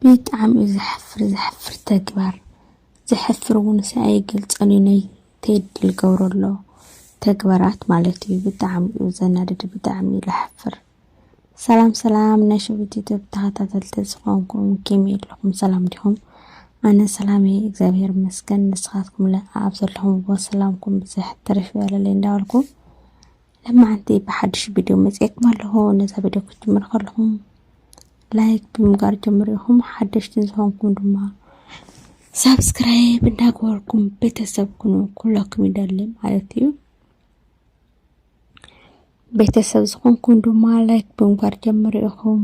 ብጣዕሚ እዩ ዘሕፍር ዘሕፍር ተግባር ዘሕፍር እውንስ ኣይገልፆን እዩ ናይ ቴዲ ልገብሮ ኣሎ ተግባራት ማለት እዩ ብጣዕሚ እዩ ዘናድድ ብጣዕሚ እዩ ለሕፍር ሰላም ሰላም ናይ ሸዊት ዩቱብ ተኸታተልቲ ዝኾንኩም ከመይ ኣለኹም ሰላም ዲኹም ኣነ ሰላም እየ እግዚኣብሔር ይመስገን ንስኻትኩም ለ ኣብ ዘለኹምዎ ሰላምኩም ብዝሕ ትርፍ ይበለለይ እንዳበልኩ ለማዓንቲ ብሓድሽ ቪድዮ መፅኤኩም ኣለኹ ነዛ ቪድዮ ክትጅምሩ ከለኹም ላይክ ብምጋር ጀምሩ ኢኹም ሓደሽትን ዝኾንኩም ድማ ሳብስክራይብ እንዳገበርኩም ቤተሰብ ኩኑ ኩለኩም ይደሊ ማለት እዩ ቤተሰብ ዝኾንኩም ድማ ላይክ ብምጋር ጀምሩ ኢኹም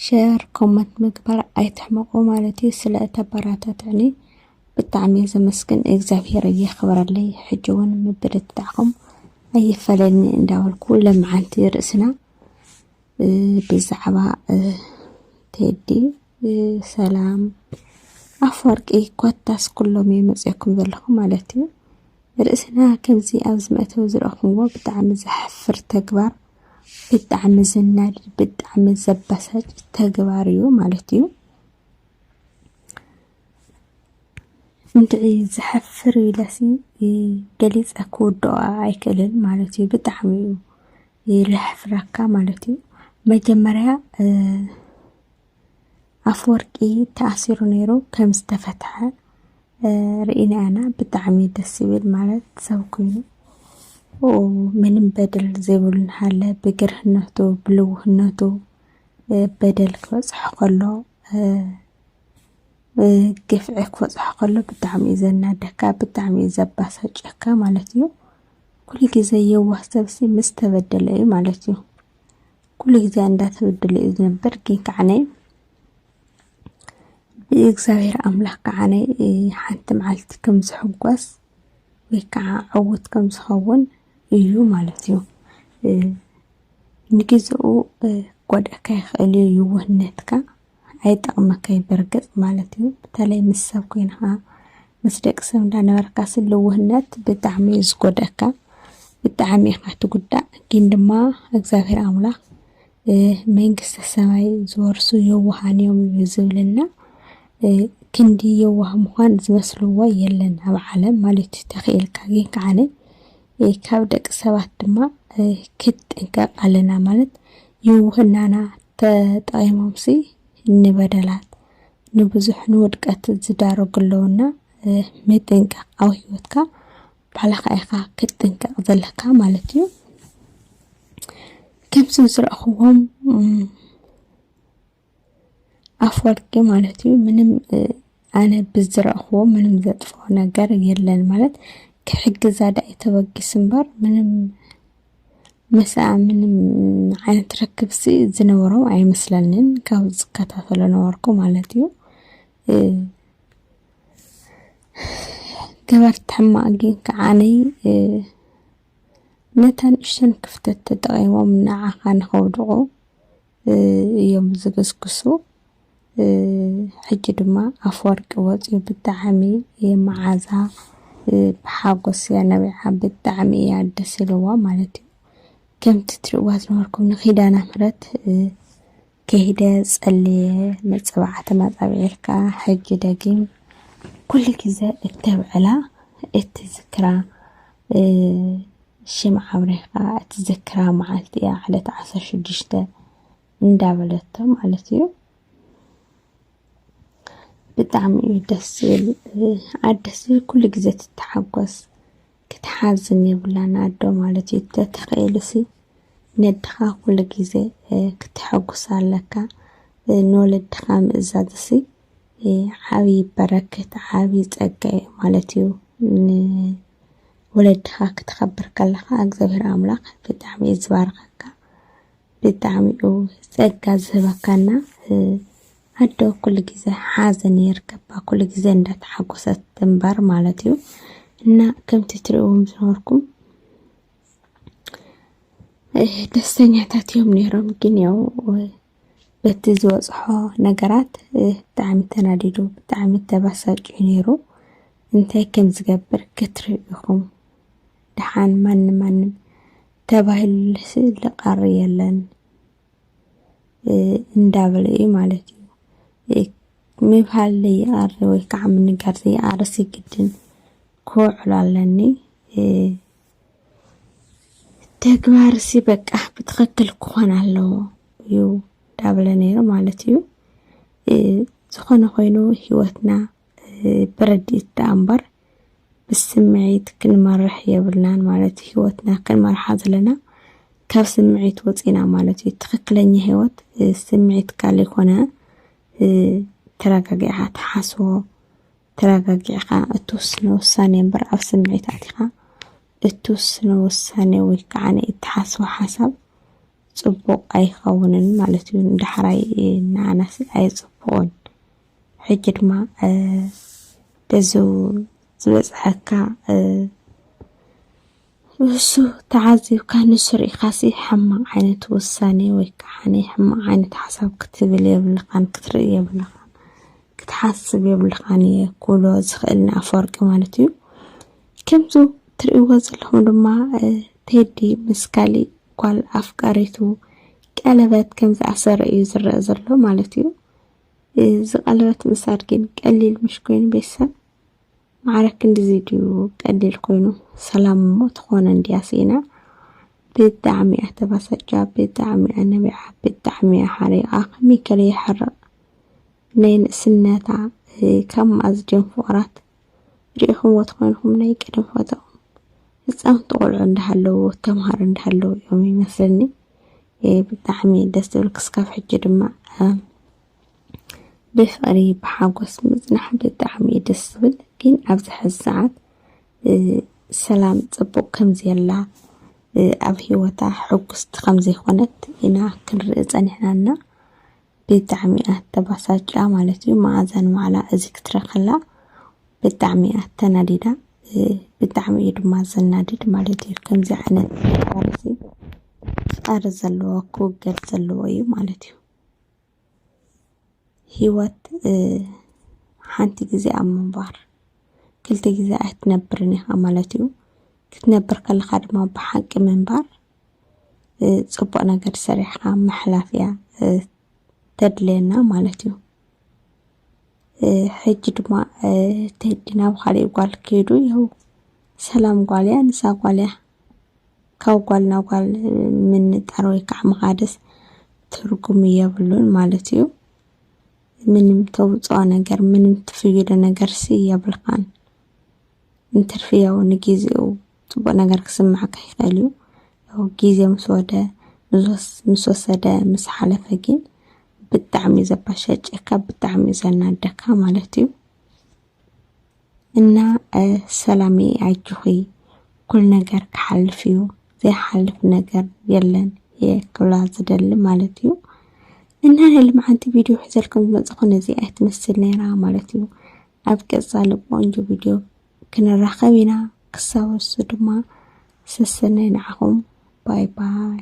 ሸር ኮመንት ምግባር ኣይትሕመቑ ማለት እዩ ስለ እተበራታትዕኒ ብጣዕሚ እየ ዘመስግን እግዚኣብሄር እየኽብረለይ ሕጂ እውን ምብርትታዕኹም ኣይፈለኒ እንዳበልኩ ለመዓንቲ ርእስና ብዛዕባ ቴዲ ሰላም ኣፈወርቂ ኮታስ ኩሎም እዩ መፅኩም ዘለኹ ማለት እዩ ርእስና ከምዚ ኣብ ዝመእተዊ ዝረኹምዎ ብጣዕሚ ዘሕፍር ተግባር ብጣዕሚ ዘናድድ ብጣዕሚ ዘበሳጭ ተግባር እዩ ማለት እዩ። እንድዒ ዘሕፍር እዩ ኢለሲ ገሊፀ ክውድኦ ኣይክእልን ማለት እዩ። ብጣዕሚ እዩ ለሕፍረካ ማለት እዩ። መጀመርያ ኣፍወርቂ ተኣሲሩ ነይሩ ከም ዝተፈትሐ ርኢና ኢና ብጣዕሚ ደስ ይብል ማለት ሰብ ኮይኑ ምንም በደል ዘይብሉ እናሃለ ብግርህነቱ ብልውህነቱ በደል ክበፅሖ ከሎ ግፍዒ ክበፅሖ ከሎ ብጣዕሚ እዩ ዘናደካ ብጣዕሚ እዩ ዘባሳጨካ ማለት እዩ ኩሉ ግዜ የዋህ ሰብሲ ምስ ተበደለ እዩ ማለት እዩ ኩሉ ግዜ እንዳተበደለ እዩ ዝነበር ግን ከዓነ ብእግዚኣብሔር ኣምላክ ከዓነ ሓንቲ መዓልቲ ከም ዝሕጎስ ወይ ከዓ ዕውት ከም ዝኸውን እዩ ማለት እዩ ንግዜኡ ክጎድኣካ ይኽእል እዩ ይውህነትካ ኣይጠቕመካይ ብርግጽ ማለት እዩ በተለይ ምስ ሰብ ኮይንካ ምስ ደቂ ሰብ እንዳነበርካ ልውህነት ብጣዕሚ እዩ ዝጎድኣካ ብጣዕሚ ኢኻ ትጉዳእ ግን ድማ እግዚኣብሔር ኣምላኽ መንግስተ ሰማይ ዝወርሱ የዋሃን እዮም እዩ ዝብልና ክንዲ የዋህ ምዃን ዝመስልዎ የለን ኣብ ዓለም ማለት እዩ ተኽኢልካ ግን ከዓነ ካብ ደቂ ሰባት ድማ ክትጥንቀቕ ኣለና ማለት የውህናና ተጠቒሞምሲ ንበደላት ንብዙሕ ንውድቀት ዝዳረጉ ኣለውና ምጥንቃቕ ኣብ ሂወትካ ባዕልኻ ኢኻ ክትጥንቀቕ ዘለካ ማለት እዩ ከምዚ ዝረእኹዎም ኣፈወርቂ ማለት እዩ ምንም ኣነ ብዝረእኽዎ ምንም ዘጥፍኦ ነገር የለን ማለት ክሕግዛ ዳኣ እዩ ተበጊሱ እምበር ምንም ምስኣ ምንም ዓይነት ርክብሲ ዝነበሮም ኣይመስለንን ካብ ዝከታተሎ ነበርኩ ማለት እዩ ገበርቲ ሕማቅ ግን ከዓነይ ነታ ንእሽተን ክፍተት ተጠቒሞም ንዓኻ ንኸውድቑ እዮም ዝግስግሱ። ሕጂ ድማ ኣፍወርቂ ወፂኡ ብጣዕሚ መዓዛ ብሓጎስ እያ ነቢዓ ብጣዕሚ እያ ደስ ኢልዋ ማለት እዩ። ከምቲ ትሪእዋ ዝነበርኩም ንኪዳነ ምሕረት ከይደ ፀልየ መፀባዓ ተመፃቢዕልካ ሕጂ ደጊም ኩሉ ግዘ እተብዕላ እትዝክራ ሽምዓ ኣብሪኻ እትዝክራ መዓልቲ እያ፣ ዕለት ዓሰርተ ሽዱሽተ እንዳበለቶ ማለት እዩ። ብጣዕሚ እዩ ደስ ዝብል ኣደ ኩሉ ግዜ ትተሓጎስ ክትሓዝን የብላን ኣዶ ማለት እዩ ተተኸኢልሲ ነድኻ ኩሉ ግዜ ክትሐጉስ ኣለካ ንወለድኻ ምእዛዝሲ ዓብዪ በረከት ዓብዪ ፀጋ እዩ ማለት እዩ። ንወለድኻ ክተኸብር ከለኻ እግዚኣብሔር ኣምላኽ ብጣዕሚ እዩ ዝባርኸካ ብጣዕሚ እዩ ፀጋ ዝህበካና ኣዶ ኩሉ ግዜ ሓዘን የርከባ ኩሉ ግዜ እንዳተሓጎሰት ትንበር ማለት እዩ እና ከምቲ ትሪእዎም ዝነበርኩም ደስተኛታት እዮም ነይሮም ግን ያው በቲ ዝበፅሖ ነገራት ብጣዕሚ ተናዲዱ ብጣዕሚ ተባሳጭዩ ነይሩ። እንታይ ከም ዝገብር ክትርእዩ ኢኹም። ደሓን ማንም ማንም ተባሂሉልሲ ልቐሪ የለን እንዳበለ እዩ ማለት እዩ። ምብሃል ዘይቐሪ ወይ ከዓ ምንጋር ዘይቐርሲ ግድን ክውዕሉ ኣለኒ። ተግባር ሲ በቃ ብትኸክል ክኾን ኣለዎ እዩ ዳብለ ነይረ ማለት እዩ። ዝኾነ ኮይኑ ህይወትና ብረድኢት ደኣ እምበር ብስምዒት ክንመርሕ የብልናን ማለት እዩ። ህይወትና ክንመርሓ ዘለና ካብ ስምዒት ወፂና ማለት እዩ። ትኽክለኛ ህይወት ስምዒት ካል ይኮነ ተረጋጊዕኻ ትሓስቦ ተረጋጊዕኻ እትውስኖ ውሳኔ እምበር ኣብ ስምዒት ኣቲኻ እትውስኖ ውሳኔ ወይ ከዓ እትሓስቦ ሓሳብ ፅቡቕ ኣይኸውንን ማለት እዩ። ንዳሕራይ ንኣናሲ ኣይፅቡቕን። ሕጂ ድማ በዚ ዝበፅሐካ ንሱ ተዓዚብካ ንሱ ርኢኻሲ ሕማቕ ዓይነት ውሳኔ ወይ ከኣ ናይ ሕማቕ ዓይነት ሓሳብ ክትብል የብልኻን ክትርኢ የብልኻን ክትሓስብ የብልኻን እየ ክብሎ ዝኽእል ንኣፈወርቂ ማለት እዩ። ከምዚ ትርእይዎ ዘለኹም ድማ ቴዲ ምስ ካሊእ ጓል ኣፍቃሪቱ ቀለበት ከም ዝኣሰረ እዩ ዝረአ ዘሎ ማለት እዩ። እዚ ቀለበት ምሳድ ግን ቀሊል ምሽ ኮይኑ ቤተሰብ ማዕረ ክንድዚ ድዩ ቀሊል ኮይኑ ሰላም እሞ ትኾነ እንድያ ስኢና ብጣዕሚ እያ ተባሰጃ ብጣዕሚ እያ ነቢዓ ብጣዕሚ እያ ሓሪቓ ከመይ ከለ ይሕርቕ ናይ ንእስነታ ካብ ማእዝጀን ፍቕራት ርኢኹምዎ ትኾንኩም ናይ ቅድም ፎቶኦም ህፃውንቲ ቆልዑ እንዳሃለዎ ተምሃሮ እንዳሃለዎ እዮም ይመስለኒ ብጣዕሚ ደስ ዝብል ክስካብ ሕጂ ድማ ብፍቕሪ ብሓጎስ ምፅናሕ ብጣዕሚ እዩ ደስ ዝብል ግን ኣብዚ ሕዚ ሰዓት ሰላም ፅቡቕ ከምዘየላ ኣብ ሂወታ ሕጉስቲ ከምዘይኮነት ኢና ክንርኢ ፀኒሕና እና ብጣዕሚ እያ ተባሳጭያ ማለት እዩ መዓዛ ንባዕላ እዚ ክትርኢ ከላ ብጣዕሚ እያ ተናዲዳ ብጣዕሚ እዩ ድማ ዘናድድ ማለት እዩ ከምዚ ዓይነት ተግባር እዚ ፀር ዘለዎ ክውገድ ዘለዎ እዩ ማለት እዩ ህይወት ሓንቲ ግዜ ኣብ ምንባር ክልተ ግዜ ኣይትነብርን ኢኻ ማለት እዩ። ክትነብር ከለኻ ድማ ብሓቂ ምንባር ፅቡቕ ነገር ሰሪሕኻ ምሕላፍ እያ ተድልየና ማለት እዩ። ሕጂ ድማ ቴዲ ናብ ኻሊእ ጓል ከይዱ ይሀው ሰላም ጓል እያ ንሳ ጓል እያ። ካብ ጓል ናብ ጓል ምንጣር ወይ ከዓ ምኻድስ ትርጉም የብሉን ማለት እዩ። ምንም ተውፅኦ ነገር ምንም ትፍይዶ ነገርሲ የብልኻን። እንትርፊ ያው ንጊዜኡ ፅቡቅ ነገር ክስምዓካ ይኽእል እዩ። ያው ጊዜ ምስ ወደ ምስ ወሰደ ምስ ሓለፈ ግን ብጣዕሚ እዩ ዘበሸጨካ ብጣዕሚ እዩ ዘናደካ ማለት እዩ። እና ሰላምየ ኣጆኺ ኩሉ ነገር ክሓልፍ እዩ ዘይሓልፍ ነገር የለን እየ ክብላ ዝደሊ ማለት እዩ እና ናይ ልምዓንቲ ቪድዮ ሒዘልኩም ዝመፅኹ ነዚ ኣይትመስል ነይራ ማለት እዩ ኣብ ቀፃሊ ቆንጆ ቪድዮ ክንራኸብ ኢና ክሳብ እሱ ድማ ሰሰናይ ንዓኹም ባይ ባይ